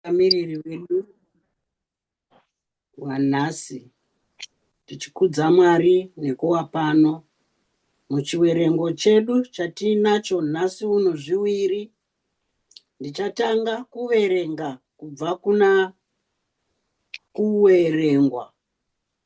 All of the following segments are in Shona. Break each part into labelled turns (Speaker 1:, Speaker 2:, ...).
Speaker 1: mutungamiriri wedu wanhasi tichikudza Mwari nekuva pano. Muchiwerengo chedu chatiinacho nhasi uno zviwiri, ndichatanga kuverenga kubva kuna kuwerengwa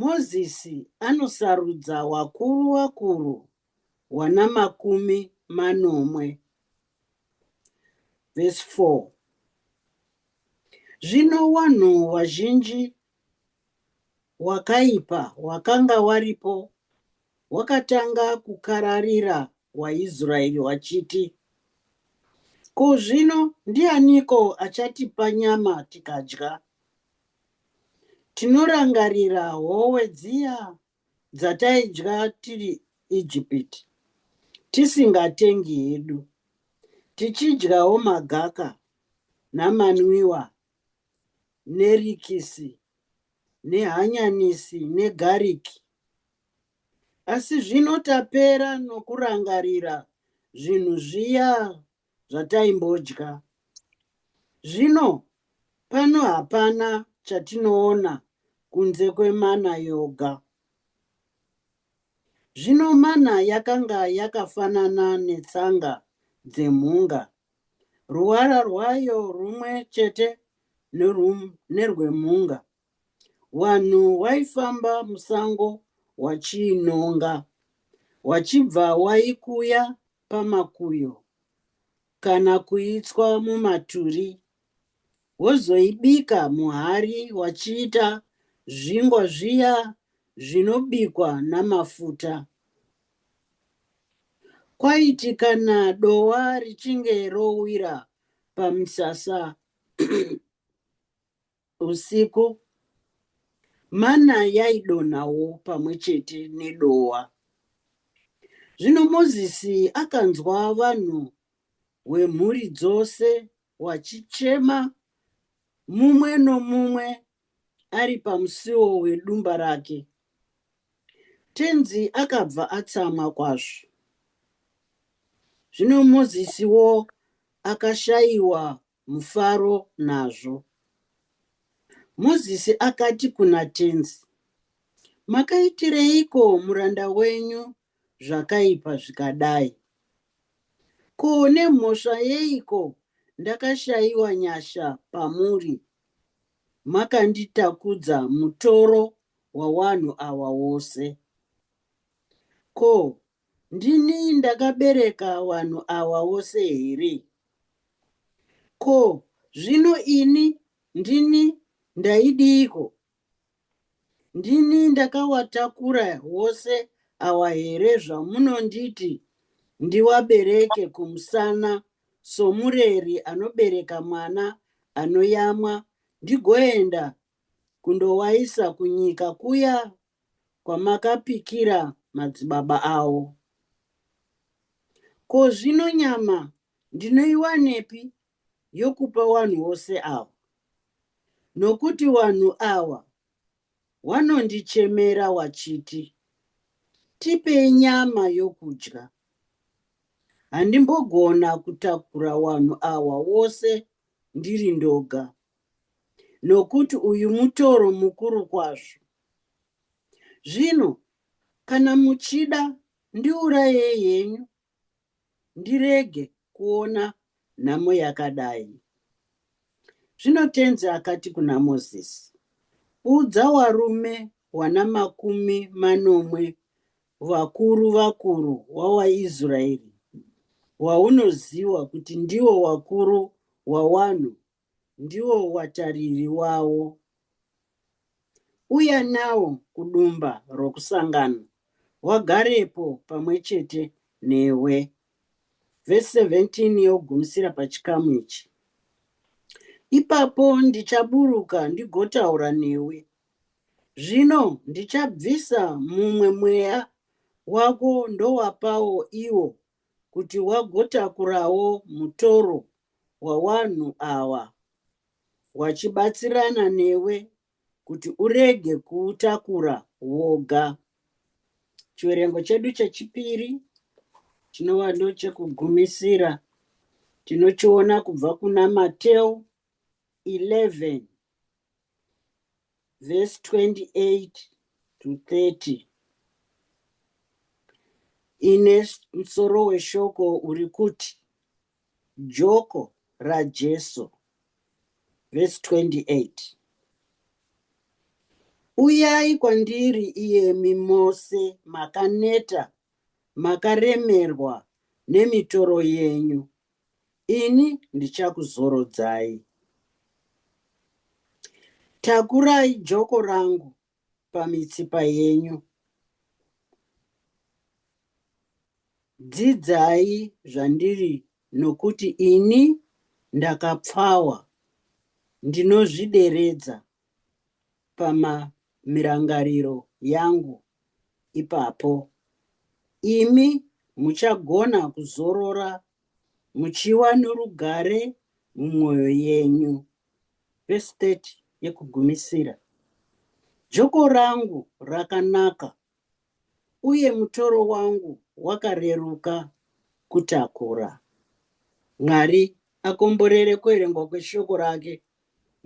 Speaker 1: Mozisi anosarudza wakuru wakuru wana makumi manomwe. Vhesi 4 Zvino wanhu wazhinji wakaipa wakanga waripo wakatanga kukararira waIsraeri wachiti, Ko zvino ndianiko achatipa nyama tikadya? Tinorangarira howe dziya dzataidya tiri Ijipiti, tisingatengi hedu, tichidyawo magaka namanwiwa nerikisi nehanyanisi negariki. Asi zvino tapera nokurangarira zvinhu zviya zvataimbodya. Zvino pano hapana chatinoona kunze kwemana yoga. Zvino mana yakanga yakafanana netsanga dzemhunga, ruvara rwayo rumwe chete nerwemhunga. Wanhu waifamba musango wachiinhonga, wachibva waikuya pamakuyo kana kuitswa mumaturi, wozoibika muhari wachiita zvingwa zviya zvinobikwa namafuta. Kwaiti kana dowa richinge rowira pamisasa, Usiku, mana yaidonhawo pamwe chete nedohwa. Zvino Mozisi akanzwa vanhu wemhuri dzose wachichema, mumwe nomumwe ari pamusiwo wedumba rake. Tenzi akabva atsamwa kwazvo. Zvino Mozisiwo akashayiwa mufaro nazvo. Mozisi akati kuna tenzi, Makaitireiko muranda wenyu zvakaipa zvikadai? Ko nemhosva yeiko ndakashayiwa nyasha pamuri, makanditakudza mutoro wawanhu awa wose? Ko Ndini ndakabereka wanhu awa wose here? Ko zvino ini ndini ndaidiiko? Ndini ndakawatakura wose awa here zvamunonditi ndiwabereke kumusana somureri anobereka mwana anoyamwa ndigoenda kundowaisa kunyika kuya kwamakapikira madzibaba avo. Ko zvino nyama ndinoiwanepi yokupa wanhu wose awa? Nokuti wanhu awa wanondichemera wachiti, Tipei nyama yokudya. Handimbogona kutakura wanhu awa wose ndiri ndoga. nokuti uyu mutoro mukuru kwazvo. Zvino kana muchida ndiurayei henyu ndirege kuona nhamo yakadai. Zvino tenzi akati kuna Mozisi, Udza warume wana makumi manomwe vakuru vakuru wawaIsraeri, waunoziwa kuti ndiwo wakuru wawanhu ndiwo watariri wawo. Uya nawo kudumba rokusangano, wagarepo pamwe chete newe. Vhesi 17 yogumisira pachikamu ichi. Ipapo ndichaburuka ndigotaura newe. Zvino ndichabvisa mumwe mweya wako ndowapawo iwo kuti wagotakurawo mutoro wawanhu awa wachibatsirana newe kuti urege kuutakura woga. Chiverengo chedu chechipiri chinova ndochekugumisira tinochiona kubva kuna Mateo 11 verse 28 to 30 ine musoro weshoko uri kuti joko rajesu verse 28 uyai kwandiri iyemi mose makaneta makaremerwa nemitoro yenyu ini ndichakuzorodzai. Takurai joko rangu pamitsipa yenyu. Dzidzai zvandiri nokuti ini ndakapfawa, ndinozvideredza pamirangariro yangu ipapo. Imi muchagona kuzorora muchiva norugare mumwoyo yenyu. Vhesi 30 yekugumisira. Joko rangu rakanaka uye mutoro wangu wakareruka kutakura. Mwari akomborere kuverengwa kweshoko rake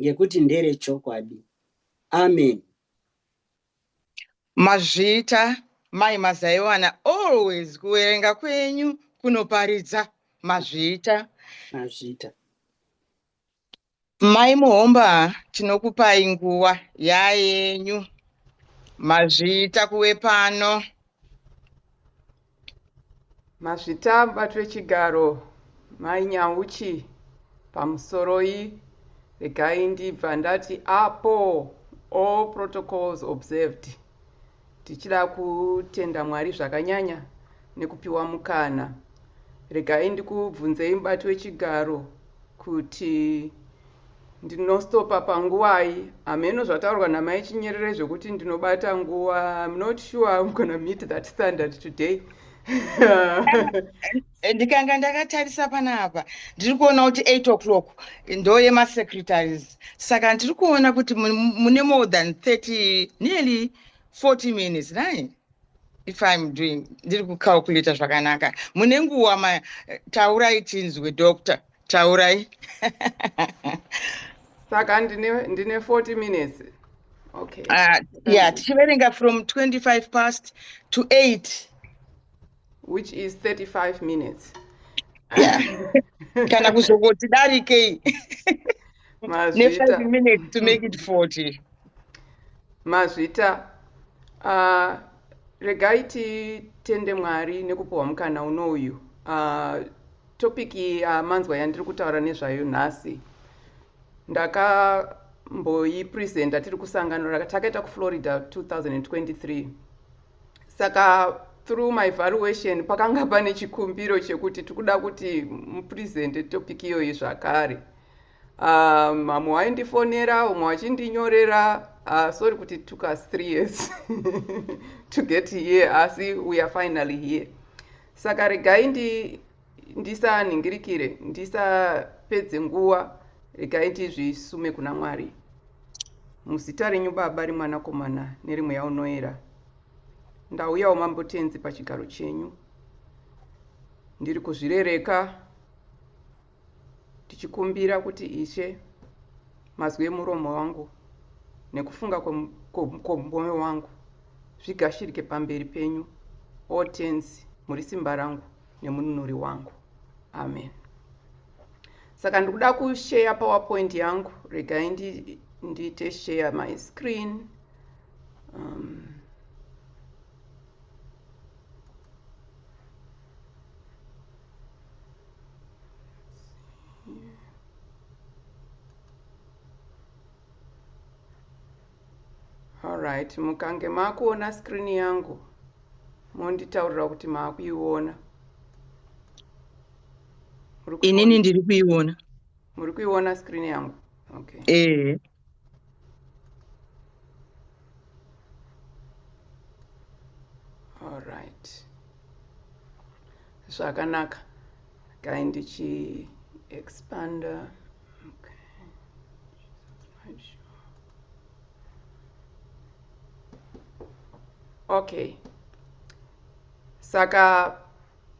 Speaker 1: ngekuti ndere chokwadi. Amen.
Speaker 2: Mazvita mai mazaiwana always kuverenga kwenyu kunoparidza mazvita. Mazvita. Mai Muhomba tinokupai nguva yayenyu mazvita kuve pano.
Speaker 3: Mazvita mubato wechigaro Mai Nyauchi pamusoroi regai ndibva ndati apo all protocols observed. Tichida kutenda Mwari zvakanyanya nekupiwa mukana. Regai ndikubvunzei mubati wechigaro kuti ndinostopa panguvai hameno zvataurwa namai Chinyerere zvekuti ndinobata nguva. I'm not sure I'm gonna meet that standard today.
Speaker 2: Eh, ndikanga ndakatarisa panapa ndiri kuona kuti 8 o'clock ndoyemasecretaries saka ndiri kuona kuti mune more than 30 nearly 40 minutes nai if im doing ndiri kucalculata zvakanaka mune nguva ma eh, taurai tinzwe doctor taurai
Speaker 3: saka ndine, ndine 40 minutes okay uh, yeah
Speaker 2: tichiverenga from 25 past to 8
Speaker 3: which is 35 minutes
Speaker 2: kana kuzongoti darikei ne5
Speaker 3: minutes
Speaker 2: to make it 40 mazvita
Speaker 3: uh, regai titende mwari nekupiwa mukana uno uyu uh, topic yamanzwa uh, yandiri kutaura nezvayo nhasi ndakamboipresenta tiri kusangano rakatakaita kuflorida 2023 saka through my valuation pakanga pane chikumbiro chekuti tikuda kuti mupresente topic iyoyi zvakare um, mamwe waindifonera umwe wachindinyorera uh, sorry kuti took us three years to get here asi we are finally here saka regai ndi ndisanhingirikire ndisapedze nguva regai tizvisume kuna mwari muzita renyu baba remwanakomana neremweya unoera ndauyawo mambo tenzi pachigaro chenyu ndiri kuzvirereka ndichikumbira kuti ishe mazwi emuromo wangu nekufunga kwemwoyo wangu zvigashirike pamberi penyu o tenzi muri simba rangu nemununuri wangu amen saka ndikuda kusheya powerpoint yangu regai ndiite share my screen um, right mukange makuona screen yangu monditaurira kuti maakuiona
Speaker 2: inini ndiri kuiona muri kuiona
Speaker 3: screen yangu okay ehe alright zvakanaka gai ndichi expander okay saka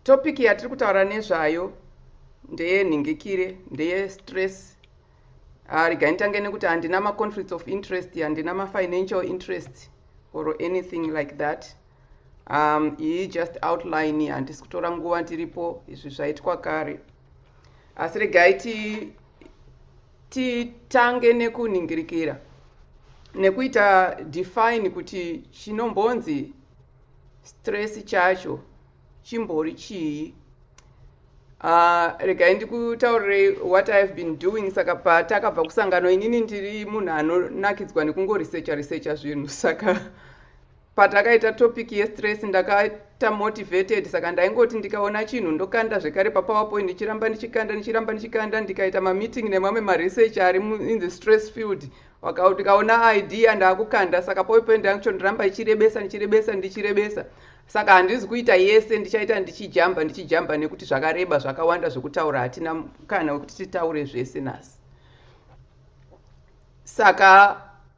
Speaker 3: topic yatiri kutaura nezvayo ndeye nhingikire ndeye stress ah, rega nditange nekuti handina maconflicts of interest handina mafinancial interest or anything like that um, iyi just outline handisi kutora nguva ndiripo izvi zvaitwa kare asi regai ti Titange nekunhingirikira nekuita define kuti chinombonzi stress chacho chimbori chii. Uh, regai ndikutaurirei what i have been doing saka patakabva kusangano inini ndiri munhu anonakidzwa nekungoresearcha researcha zvinhu saka Patakaita topic yestress ndakaita motivated saka ndaingoti ndikaona chinhu ndokanda zvekare papowerpoint ndichiramba ndichikanda ndichiramba ndichikanda ndikaita mameeting nemamwe maresearch ari in the stress field ndikaona idea ndaakukanda saka powerpoint yangu cho ndiramba ichirebesa ndichirebesa ndichirebesa saka handizi kuita yese ndichaita ndichijamba ndichijamba nekuti zvakareba zvakawanda zvekutaura hatina kana wekuti titaure zvese nhasi saka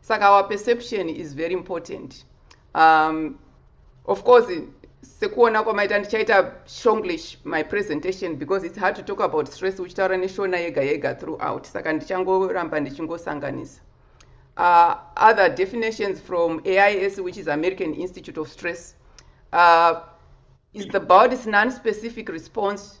Speaker 3: saka our perception is very important um, of course sekuona kwamaita ndichaita shonglish my presentation because it's hard to talk about stress uchitaura neshona yega yega throughout saka ndichangoramba ndichingosanganisa uh, other definitions from ais which is american institute of stress uh, is the body's non-specific response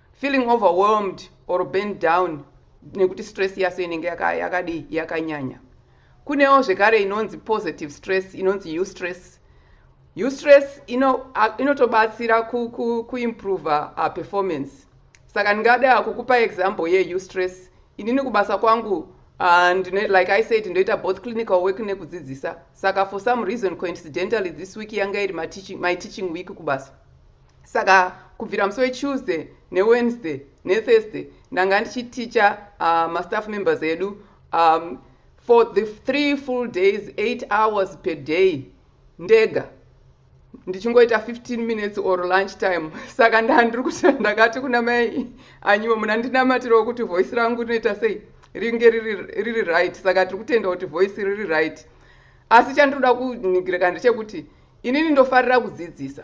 Speaker 3: Feeling overwhelmed or burned down nekuti stress yaso inenge yaka, yakadii yakanyanya. Kunewo zvekare inonzi positive stress inonzi eustress. Eustress ino, a- inotobatsira ku, ku, kuimprover uh, performance. Saka ndingada kukupa example ye eustress. Inini kubasa kwangu uh, ndine, like I said ndoita both clinical work nekudzidzisa. Saka for some reason coincidentally this week yanga iri ma teaching, my teaching week kubasa. Saka kubvira musi weTuesday neWednesday neThursday ndanga ndichiticha uh, mastaff members edu um, for the three full days eight hours per day ndega ndichingoita 15 minutes or lunch time saka ndandiri kuti ndakati kuna mai anyiwo muna ndinamatirewo kuti voice rangu rinoita sei ringe riri right saka tiri kutenda kuti voice riri right asi chandinoda kunigireka ndechekuti inini ndofarira kudzidzisa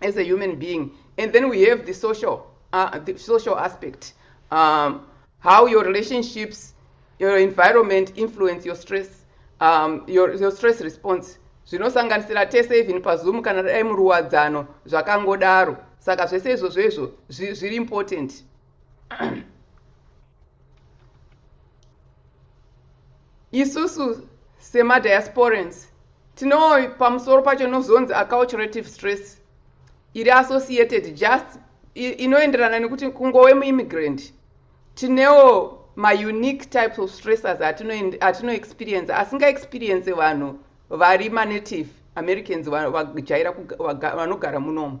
Speaker 3: as a human being and then we have the social, uh, the social aspect um, how your relationships your environment influence your stress um, your, your stress response zvinosanganisira tese even pazoom kana dai muruwadzano zvakangodaro saka zvese izvozvo izvo zviri important isusu semadiasporans tino pamusoro pacho nozonzi acculturative stress iri associated just inoenderana nekuti kungowe muimmigrant tinewo maunique types of stressors atinoexperience asingaexperience vanhu vari manative americans vajaira vanogara munomu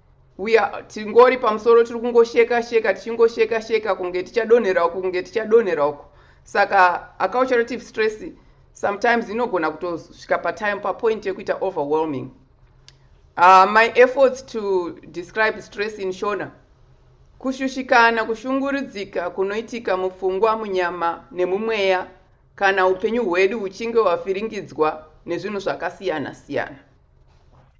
Speaker 3: We are, tingori pamusoro tiri kungosheka sheka tichingosheka sheka kunge tichadonhera uku kunge tichadonhera uku saka acculturative stress sometimes inogona kutosvika patime papoint yekuita overwhelming uh, my efforts to describe stress in shona kushushikana kushungurudzika kunoitika mupfungwa munyama nemumweya kana upenyu hwedu huchinge hwavhiringidzwa nezvinhu zvakasiyana siyana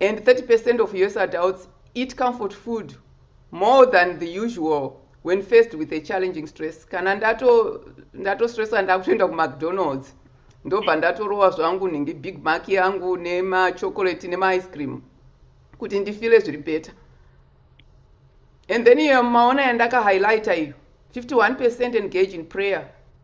Speaker 3: and 30 percent of us adults eat comfort food more than the usual when faced with a challenging stress kana ndatostressa ndato ndakutoenda kumacdonalds ndobva ndatorowa zvangu nhingi big mark yangu nemachocolate nemaice cream kuti ndifile zviri better and then iyo maona yandaka highlighter iyo 51 percent engage in prayer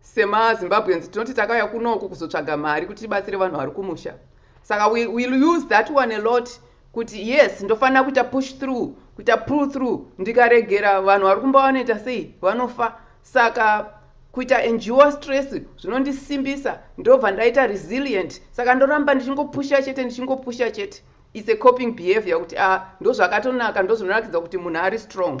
Speaker 3: Sema Zimbabweans tinoti takauya kunoku kuzotsvaga mari kuti tibatsire vanhu vari kumusha. Saka we will use that one a lot kuti yes ndofanira kuita push through, kuita pull through ndikaregera vanhu vari kumba vanoita sei vanofa. Saka kuita endure stress zvinondisimbisa ndobva ndaita resilient. Saka ndoramba ndichingopusha chete ndichingopusha chete. It's a coping behavior kuti ah ndozvakatonaka ndozvinorakidza kuti munhu ari strong.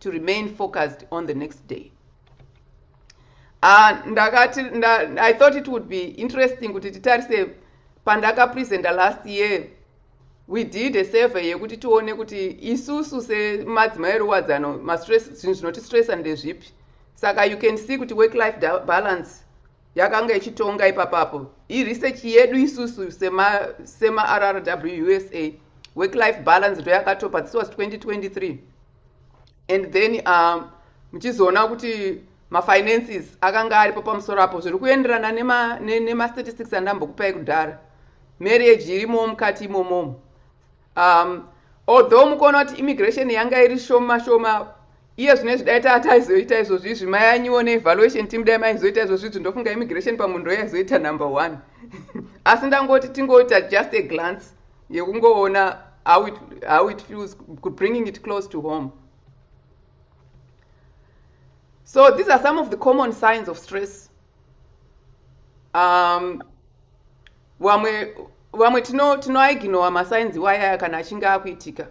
Speaker 3: to remain focused on the next day ah, ndakati i thought it would be interesting kuti titarise pandakapresenta last year we did a survey yekuti tione kuti isusu semadzimai eruwadzano mastress zvinhu zvinotistressa ndezvipi saka you can see kuti work life balance yakanga ichitonga ipapapo iresearch yedu isusu semarrwsa work life balance ndoyakatopa this was 2023 and then uh, muchizoona um, kuti mafinances akanga aripo pamusoro apo zviri kuenderana nemastatistics nema andambokupai kudhara marriage irimowo mukati imomomo um, although mukuona kuti immigration yanga iri shoma shoma iye zvino izvi dai taa taizoita izvozvi izvi mai anyiwo neevaluation team dai maizoita izvozvi izvi ndofunga immigration pamunhu yaizoita number one asi ndangoti tingoita just a glance yekungoona how it, how it feels bringing it close to home so these are some of the common signs of stress um, vamwe vamwe tinoaiginowa tino masainzi wayaya kana achinge akuitika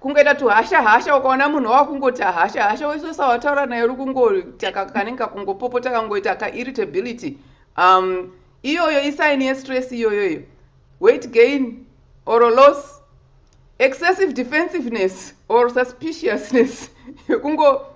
Speaker 3: kungoita tuhasha hasha ukaona munhu wakungoti hasha hasha wese usawataura naye uri kungotaka kanenge kakungopopota kangoita kairritability um, iyoyo isaini yestress iyoyoyo weight gain or loss excessive defensiveness or suspiciousness yekungo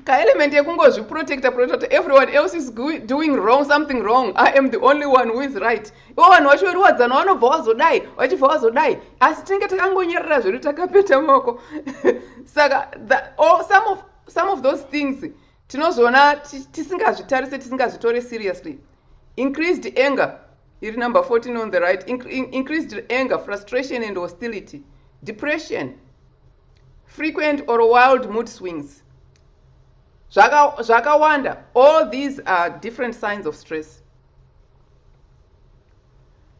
Speaker 3: kaelement yekungozviprotecta protecta everyone else is doing wrong something wrong i am the only one who is right ivo vanhu vacho veriwadzana vanobva vazodai vachibva vazodai asi tinenge takangonyerera zvedu takapeta moko saka oh, some, of, some of those things tinozoona tisingazvitarise tisingazvitore seriously increased anger iri number 14 on the right increased anger frustration and hostility depression frequent or wild mood swings zvakawanda zvaka all these are different signs of stress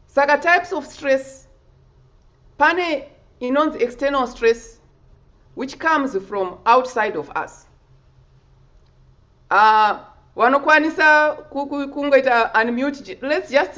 Speaker 3: saka types of stress pane inonzi external stress which comes from outside of us uh, vanokwanisa kungoita unmute let's just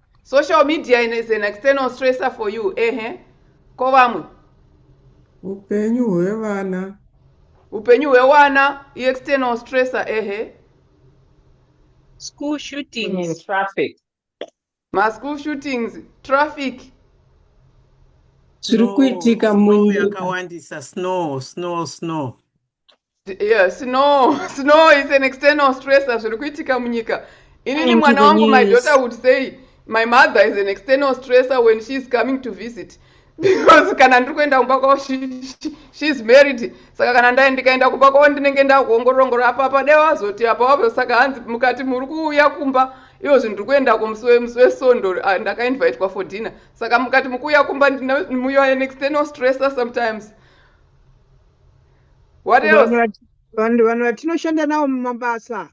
Speaker 2: social media
Speaker 3: is an external stressor for you ehe ko vamwe
Speaker 4: upenyu hwevana upenyu
Speaker 3: hwewana iexternal stressor ehe
Speaker 5: school shootings traffic maschool
Speaker 3: shootings traffic zviri
Speaker 1: kuitika muyakawandisa snow
Speaker 4: snow snow
Speaker 3: yeah, snow snow is an external stressor zviri kuitika munyika inini mwana wangu my daughter would say my mother is an external stressor when she is coming to visit because kana ndiri kuenda kumba kwavo she is married saka kana ndai ndikaenda kumba kwavo ndinenge ndakuongorongora apa pade wazoti apa wavo saka hanzi mukati muri kuuya kumba ivo zvinhu ndiri kuenda kumusi wesondo ah, ndakainvitwa for dinner saka mukati mukuuya kumba ndinomuya an external stressor sometimes what else vanhu vanhu
Speaker 6: vatinoshanda navo mumabasa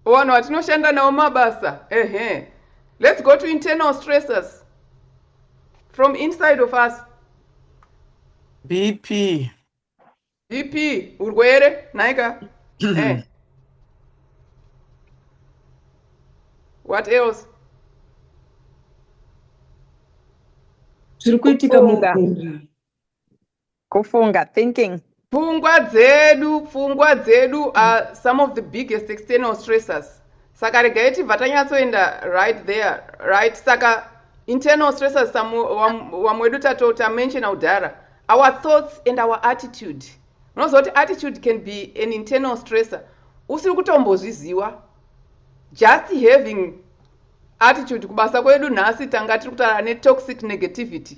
Speaker 6: vanhu
Speaker 3: vatinoshanda navo mumabasa ehe let's go to internal stressors from inside of us bp
Speaker 4: bp urwere
Speaker 3: naika eh. what else
Speaker 1: zviri kuitika muganga
Speaker 5: Kufunga, thinking. Pfungwa
Speaker 3: dzedu, pfungwa dzedu are mm. some of the biggest external stressors. Saka regai tibva tanyatsoenda right there, right? Saka internal stressors vamwe wedu tatota mention kudhara our thoughts and our attitude unoziva kuti attitude can be an internal stressor usiri kutombozviziva just having attitude kubasa kwedu nhasi tanga tiri kutaura netoxic negativity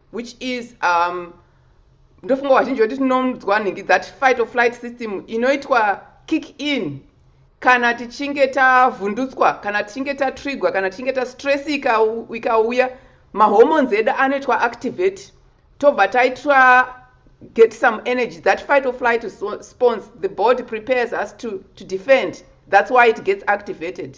Speaker 3: which is um, ndofunga vazhinji voti tinonzwa nhingi that fight of flight system inoitwa kick in kana tichinge tavhundutswa kana tichinge tatrigwa kana tichinge tastress ikauya mahormones edu anoitwa activate tobva taitwa get some energy that fight of flight response the body prepares us to, to defend that's why it gets activated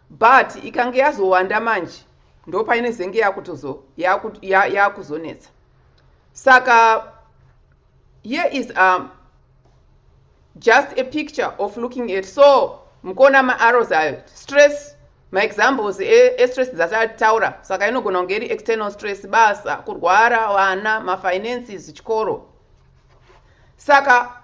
Speaker 3: But ikange yazowanda manje ndopainezenge yakutozo yakuzonetsa saka here is a um, just a picture of looking at so mukuona maarrows ayo stress maexamples estress e dzatataura saka inogona kunge iri external stress basa kurwara vana mafinances chikoro saka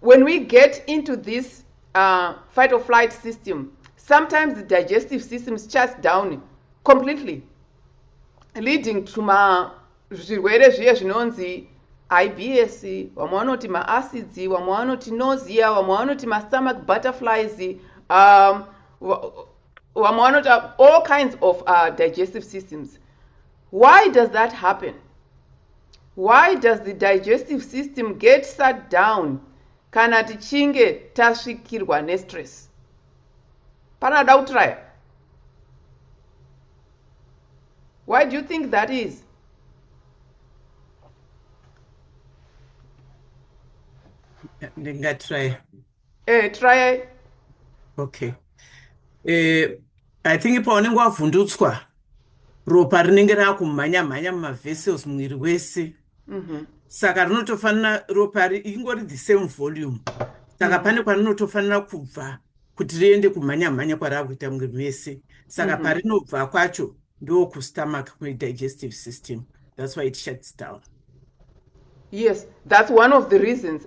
Speaker 3: When we get into this uh, fight or flight system, sometimes the digestive system shuts down completely leading to ma zvirwere zviye zvinonzi ibs vamwe vanoti maacids vamwe vanoti nosia vamwe vanoti mastomach butterflies um, vamwe vanoti uh, all kinds of uh, digestive systems why does that happen Why does the digestive system get sat down kana tichinge tasvikirwa nestress? Pane ada kutraya? Why do you think that is?
Speaker 4: Ndingatraya. Eh, tryai. Okay. Eh, I think paunenge wavhundutswa ropa rinenge rakumhanya mhanya mumavessels muviri wese. Mm -hmm. Saka rinotofanira ropa ingori the same volume. Saka mm -hmm. pane kwarinotofanira kubva kuti riende kumhanya mhanya kwarakuita muviri mese. Saka mm -hmm. parinobva kwacho ndokustomach kune digestive system. That's why it shuts down. Yes,
Speaker 3: that's one of the reasons.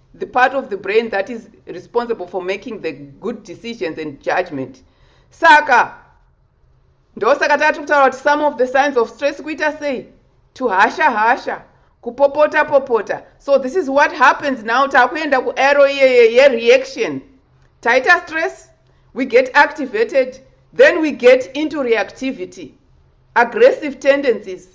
Speaker 3: the part of the brain that is responsible for making the good decisions and judgment saka ndosaka tati kutaura kuti some of the signs of stress kuita sei to hasha hasha kupopota popota so this is what happens now takuenda kuero iyeye yereaction taita stress we get activated then we get into reactivity aggressive tendencies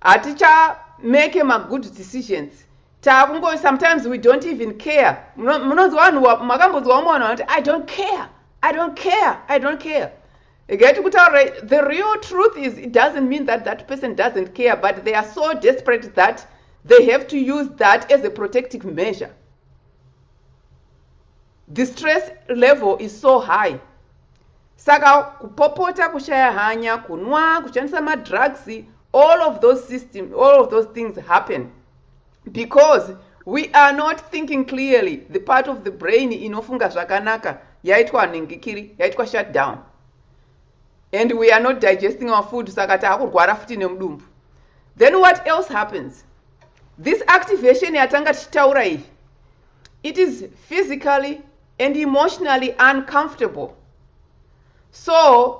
Speaker 3: hatichamake magood decisions Takungo sometimes we don't even care. Munonzwa vanhu makambonzwa vamwe vanhu vanoti I don't care. I don't care. I don't care. Get kutaura the real truth is it doesn't mean that that person doesn't care but they are so desperate that they have to use that as a protective measure. The stress level is so high. saka kupopota kushaya hanya kunwa kushandisa madrugs all of those system all of those things happen because we are not thinking clearly the part of the brain inofunga zvakanaka yaitwa nhingikiri yaitwa shutdown and we are not digesting our food saka taakurwara futi nemudumbu then what else happens this activation yatanga tichitaura iyi it is physically and emotionally uncomfortable so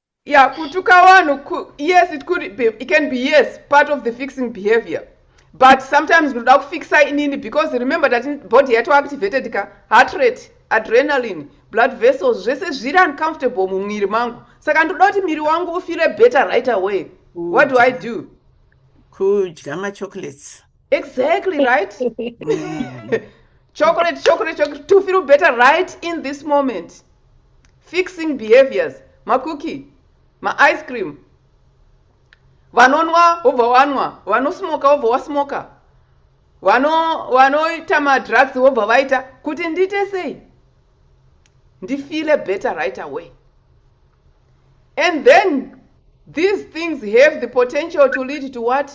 Speaker 3: Yeah, kutuka vanhu yes it could be, it can be yes part of the fixing behavior but sometimes ndinoda kufixa inini because remember that body yato activated ka heart rate adrenaline blood vessels zvese zviri uncomfortable mumwiri mangu saka ndoda kuti miri wangu ufile better right away what do i do kudya
Speaker 4: machocolates exactly
Speaker 3: right chocolate chocolate chocolate to feel better right in this moment fixing behaviors makuki maice cream vanonwa wobva wanwa vanosmoka wobva wasmoka vanoita vano madrugs wobva vaita kuti ndiite sei ndifeele better right away and then these things have the potential to lead to what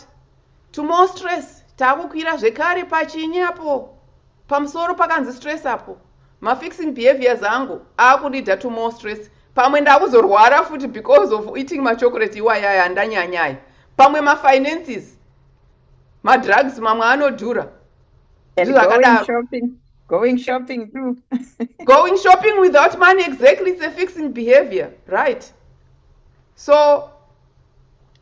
Speaker 3: Two more stress taakukwira zvekare pachinyi apo pamusoro pakanzi stress apo mafixing behaviors angu aakundida two more stress pamwe ndakuzorwara futi because of eating machocolate iwayaya andanyanyaya pamwe mafinances madrugs mamwe anodhura
Speaker 5: Going shopping too. going
Speaker 3: shopping without money exactly it's a fixing behavior right so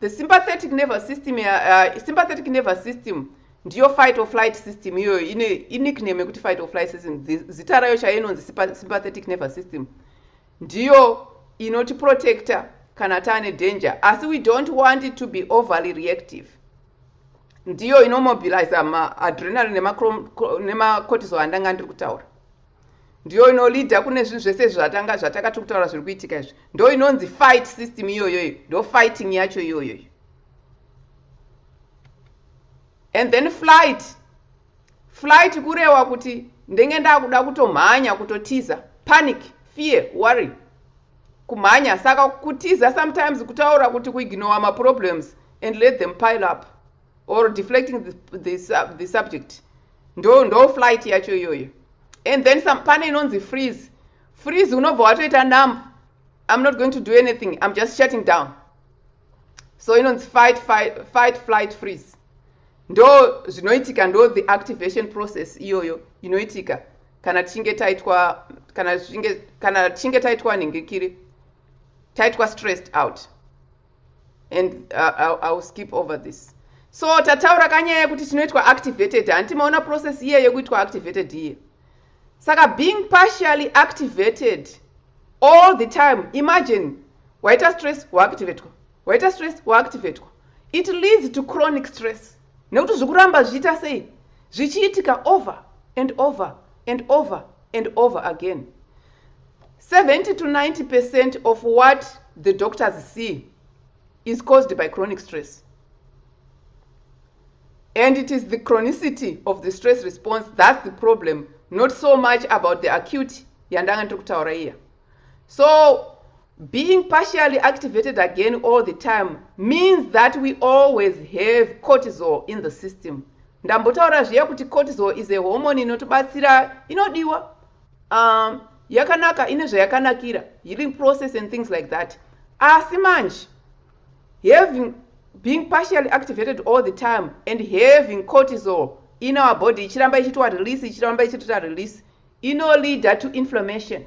Speaker 3: The sympathetic nervous system, uh, uh, sympathetic nervous system ndiyo fight or flight system iyoyo ine inickname yekuti fight or flight system zita rayo chayo inonzi sympathetic nervous system ndiyo inotiprotector kana taane danger asi we don't want it to be overly reactive ndiyo inomobilize maadrenalin nemacortisol andanga ndiri kutaura ndiyo inolida kune zvinhu zvese izvi zvatanga zvataka tiri kutaura zviri kuitika izvi ndo inonzi fight system iyoyoyo ndo fighting yacho iyoyoyo and then flight flight kurewa kuti ndenge ndakuda kutomhanya kutotiza panic fear worry kumhanya saka kutiza sometimes kutaura kuti kuignowa maproblems and let them pile up or deflecting the, the, sub, the subject ndo ndo flight yacho iyoyo and then some pane inonzi freeze freeze unobva watoita numb i'm not going to do anything i'm just shutting down so inonzi fight, fight, fight flight freeze ndo zvinoitika ndo the activation process iyoyo inoitika kana tichinge taitwa kana tichinge kana tichinge taitwa nhingikiri taitwa stressed out and uh, I'll, I'll skip over this so tataura kanyaya yekuti tinoitwa activated hanti maona process iye yekuitwa activated iye saka being partially activated all the time imagine waita stress waactivatwa waita stress waactivatwa it leads to chronic stress nekuti zvikuramba zvichiita sei zvichiitika over and over and over and over again 70 to 90 percent of what the doctors see is caused by chronic stress and it is the chronicity of the stress response thats the problem not so much about the acute yandanga ndiri kutaura iya so being partially activated again all the time means that we always have cortisol in the system ndambotaura zviya kuti cortisol is a hormone inotibatsira inodiwa um, yakanaka ine zvayakanakira healing process and things like that asi manje having being partially activated all the time and having cortisol in our body ichiramba ichitwa release ichiramba ichitwa release ino leader to inflammation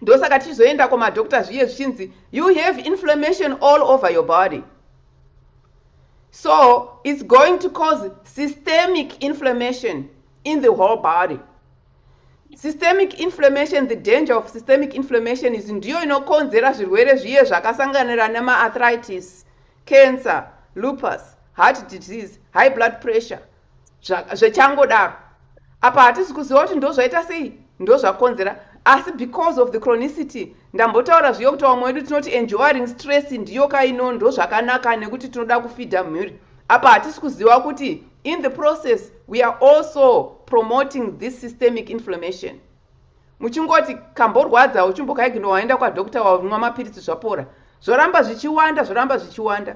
Speaker 3: ndosaka tichizoenda kumadoctor zviye zvichinzi you have inflammation all over your body so it's going to cause systemic inflammation in the whole body systemic inflammation the danger of systemic inflammation is ndiyo inokonzera zvirwere zviye zvakasanganira nemaarthritis cancer lupus heart disease high blood pressure zvechangodaro apa hatisi kuziva kuti ndozvaita sei ndozvakonzera asi because of the chronicity ndambotaura zviyo kuti vamwe wedu tinoti enjoying stress ndiyo kaino ndozvakanaka nekuti tinoda kufidha mhuri apa hatisi kuziva kuti in the process we are also promoting this systemic inflammation muchingoti kamborwadza uchimbokaigno waenda kwadokta wamwa mapiritsi zvapora zvoramba zvichiwanda zvoramba zvichiwanda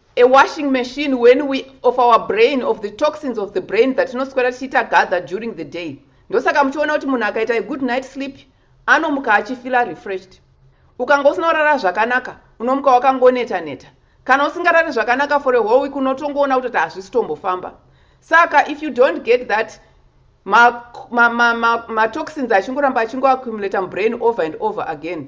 Speaker 3: A washing machine when we of our brain of the toxins of the brain dzatinoswera tichiita gather during the day ndosaka muchiona kuti munhu akaita a good night sleep anomuka achifila refreshed ukanga usina kurara zvakanaka unomuka wakangoneta neta kana usingarari zvakanaka for a whole week unotongoona kuti kuti hazvisitombofamba saka if you don't get that matoxins ma, ma, ma, ma achingoramba achingoaccumulata mubrain over and over again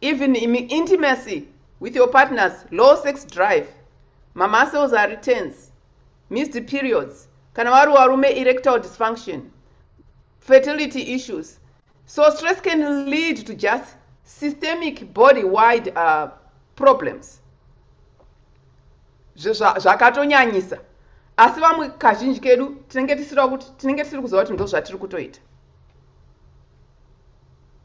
Speaker 3: Even in intimacy with your partners, low sex drive, mamuscles ari tense, missed periods, kana wari warume erectile dysfunction, fertility issues. So stress can lead to just systemic body-wide uh, problems. zvakatonyanyisa asi vamwe kazhinji kedu tinenge tisiri kuti tinenge tisiri kuziva kuti ndozvatiri kutoita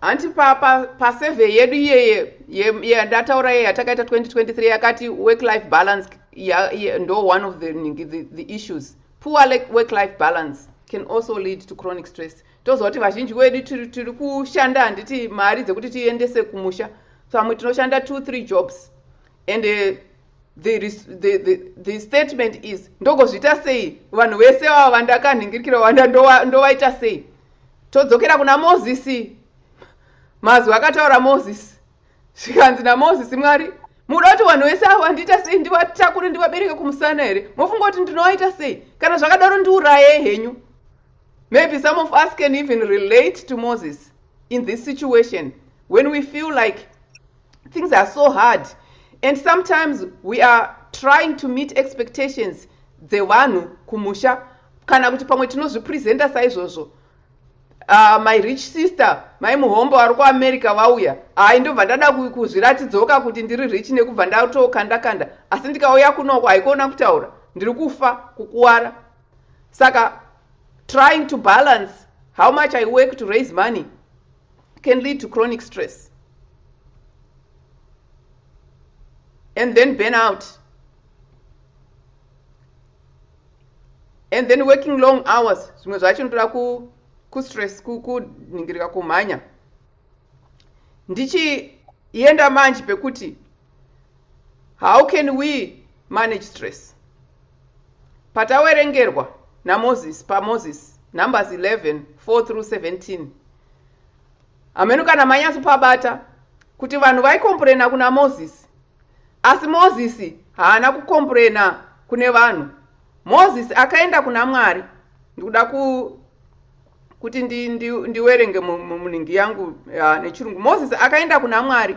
Speaker 3: hanti pa pa pa survey yedu iyeye yandataura yeye yatakaita 2023 yakati work life balance ndo one of the, the, the issues poor work life balance can also lead to chronic stress toziva kuti vazhinji wedu tiri kushanda handiti mari dzekuti tiendese kumusha pamwe tinoshanda two three jobs and uh, the, the, the, the statement is ndogozviita sei vanhu vese vava vandakanhingirikira wanda ndovaita sei todzokera kuna mozisi mazwi akataura mozisi zvikanzi namozisi mwari muda kuti vanhu vese avo vandiita sei ndivatakure ndivabereke kumusana here mofunga kuti ndinovaita sei kana zvakadaro ndiuraye henyu maybe some of us can even relate to moses in this situation when we feel like things are so hard and sometimes we are trying to meet expectations dzevanhu kumusha kana kuti pamwe tinozvipresenta saizvozvo uh, my rich sister mai muhombo vari kuamerica vauya hai ndobva ndada kuzviratidzoka kuti ndiri rich nekubva ndatokanda kanda asi ndikauya kunoko haikuona kutaura ndiri kufa kukuwara saka trying to balance how much i work to raise money can lead to chronic stress and then burn out and then working long hours zvimwe zvacho ndoda kustress kunhingirika kumhanya ndichienda manje pekuti How can we manage stress? Patawerengerwa naMoses paMoses Numbers 11, 4 through 17. Hameno kana manyaso pabata kuti vanhu vaikomburena kuna Moses. Asi Moses haana kukomburena kune vanhu. Moses akaenda kuna Mwari. Ndikuda ku kuti ndi, ndi, ndiwerenge munhingi yangu uh, nechirungu. Moses akaenda kuna Mwari.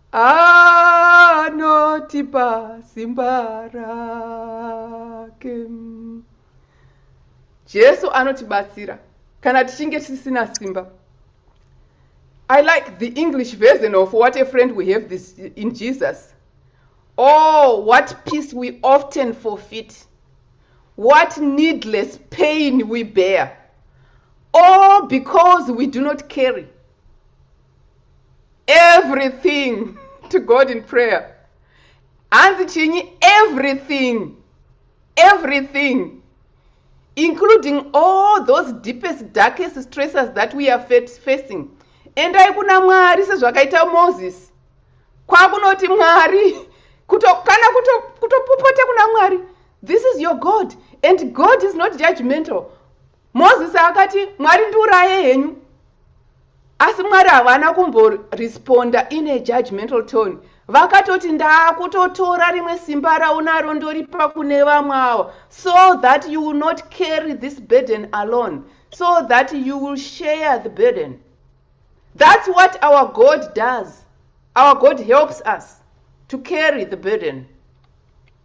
Speaker 3: Anotipa simba rake. Jesu anotibatsira kana tichinge tisina simba. I like the English version of what a friend we have this in Jesus. Oh, what peace we often forfeit. What needless pain we bear. All because we do not carry everything to god in prayer hanzi chinyi everything everything including all those deepest darkest stresses that we are facing endai kuna mwari sezvakaita moses kwakunoti mwari kuto, kana kutopopota kuto kuna mwari this is your god and god is not judgmental Mozisi akati, Mwari ndiuraye henyu. Asi Mwari havana kumboresponda in a judgmental tone. Vakatoti, Ndakutotora rimwe simba raunaro ndoripa kune vamwe awa, so that you will not carry this burden alone, so that you will share the burden. That's what our God does. Our God helps us to carry the burden.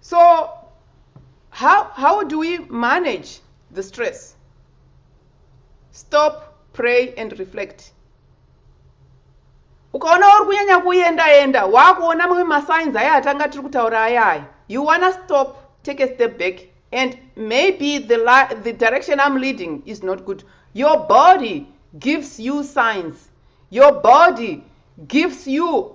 Speaker 3: so how, how do we manage the stress stop pray and reflect ukaona uri kunyanya kuenda enda wakuona mamwe masigns aya atanga tiri kutaura aya aya you wanna stop take a step back and maybe the, the direction i'm leading is not good your body gives you signs your body gives you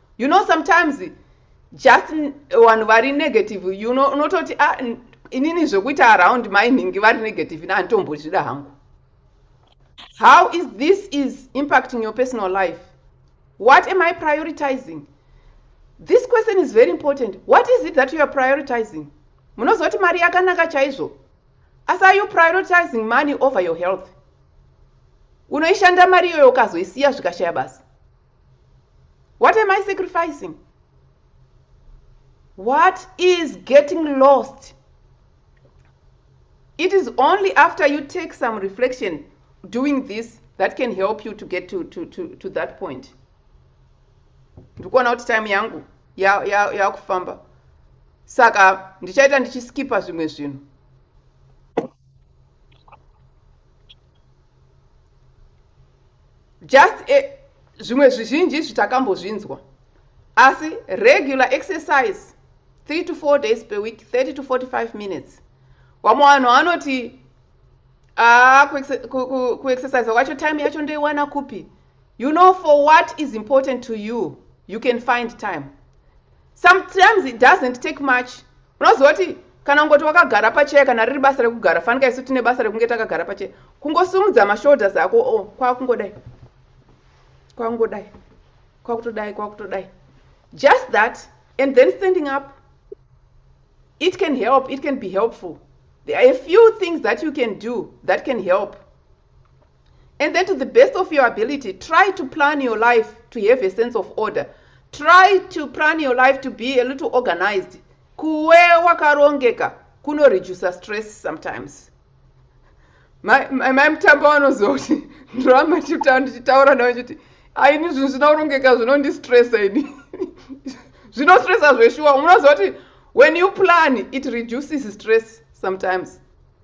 Speaker 3: you know sometimes just vanhu vari negative you know unototi ah, inini zvekuita around mai nhingi vari negative ini handitombozvida hangu how is this is impacting your personal life what am i prioritizing this question is very important what is it that you are prioritizing munozoti mari yakanaka chaizvo asi are you prioritizing money over your health unoishanda mari iyoyo ukazoisiya zvikashaya basa what am i sacrificing what is getting lost it is only after you take some reflection doing this that can help you to get to, to, to, to that point ndikuona kuti time yangu yakufamba ya, ya saka ndichaita ndichiskipa zvimwe zvinhu Just a, zvimwe zvizhinji izvi takambozvinzwa asi regular exercise 3 to 4 days per week 30 to 45 minutes wamwe vanhu vanoti ah, kuexercise kwacho time yacho ndoiwana kupi you know for what is important to you you can find time sometimes it doesn't take much unoziva kuti kana ungoti wakagara pacheya kana riri basa rekugara fanika isu tine basa rekunge takagara pacheya kungosumudza mashoulders ako o oh, kwakungodai kwakungodai kwakutodai kwakutodai just that and then standing up it can help it can be helpful there are a few things that you can do that can help and then to the best of your ability try to plan your life to have a sense of order try to plan your life to be a little organized kuwe wakarongeka kunoreducer stress sometimes mai mutambo vanoziva kuti ndiramba ndichitaura navo chiti aini zvinhu zvina kurongeka zvinondistressa ini zvinostressa zveshuwa unoziva kuti when you plan it reduces stress sometimes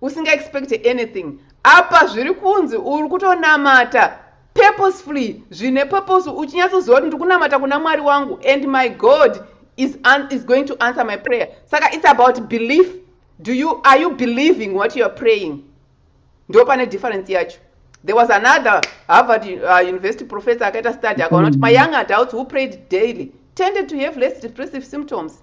Speaker 3: usinga expect anything apa zviri kunzi uri kutonamata purposefully zvine purpose uchinyatsoziva kuti ndikunamata kuna mwari wangu and my god is, is going to answer my prayer saka it's about belief do you are you believing what youare praying ndo pane difference yacho there was another harvard uh, university professor akaita study akaona kuti mm. mayoung adults who prayed daily tended to have less depressive symptoms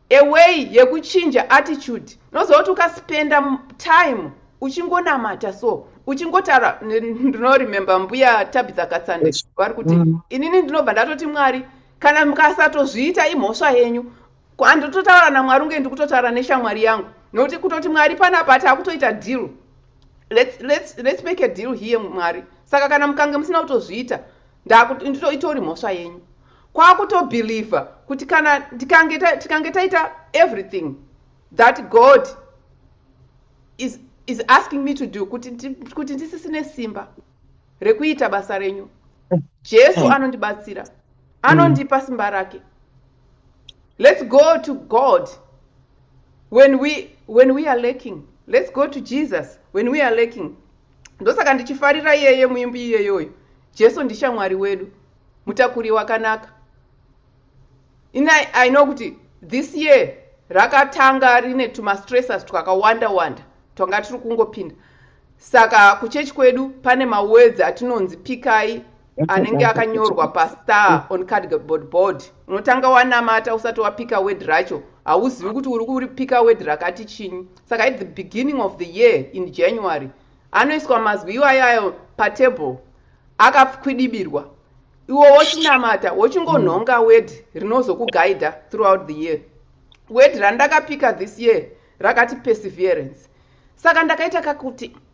Speaker 3: A way yekuchinja attitude unozoti ukaspenda time uchingonamata so uchingotaura ndino remember mbuya Tabitha Katsande vari kuti mm. inini ndinobva ndatoti Mwari kana mukasatozviita imhosva yenyu handototaura naMwari unge ndikutotaura neshamwari yangu nokuti kutoti Mwari panapa takutoita deal let's, let's, let's make a deal here Mwari saka kana mukange musina kutozviita Ndakuti ndito itori mhosva yenyu. Kwakuto believer kuti kana tikange tikange taita everything that God is is asking me to do kuti kuti ndisisine simba rekuita basa renyu. Jesu hmm. anondibatsira. Anondipa simba rake. Let's go to God when we when we are lacking. Let's go to Jesus when we are lacking. ndosaka ndichifarira iyeye muimbi iyeyoyo jesu ndishamwari wedu mutakuri wakanaka ina i know kuti this year rakatanga rine tumastresses twakawanda wanda twanga tiri kungopinda saka kuchechi kwedu pane mawedzi atinonzi pikai anenge akanyorwa pastar on cardboard board unotanga wanamata usati wapika word racho hauzivi kuti uri kuripika word rakati chinyi saka at the beginning of the year in january anoiswa mazwi iwayo ayo patable akakwidibirwa iwo wochinamata wochingonhonga word rinozokugaida throughout the year word randakapika this year rakati perseverance saka ndakaita kakuti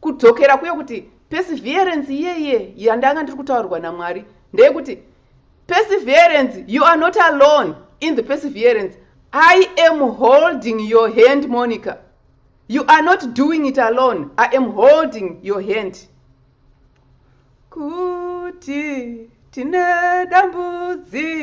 Speaker 3: Kudzokera kuye kuti perseverance iye iye yandanga ndiri kutaurirwa naMwari ndeyekuti perseverance you are not alone in the perseverance I am holding your hand Monica you are not doing it alone I am holding your hand kuti tine dambudziko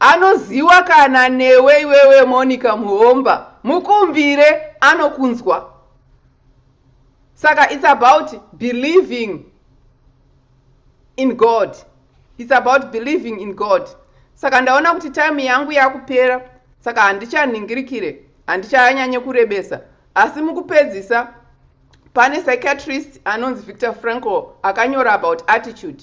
Speaker 3: Anoziwa kana newe iwewe Monica Muhomba mukumbire anokunzwa saka it's about believing in God it's about believing in God saka ndaona kuti time yangu yakupera saka handichanhingirikire handichanyanye kurebesa asi mukupedzisa pane psychiatrist anonzi Victor Frankl akanyora about attitude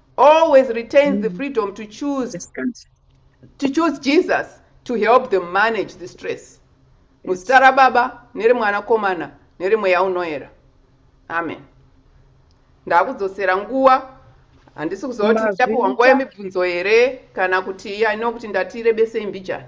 Speaker 3: always retains mm. the freedom to choose yes, to choose jesus to help them manage the stress muzita yes. rababa nerimwanakomana nerimweya unoera amen ndakudzosera nguva handisi kuziva kuti tichapiwa nguva yemibvunzo here kana kuti ino kuti ndatirebesei mbijana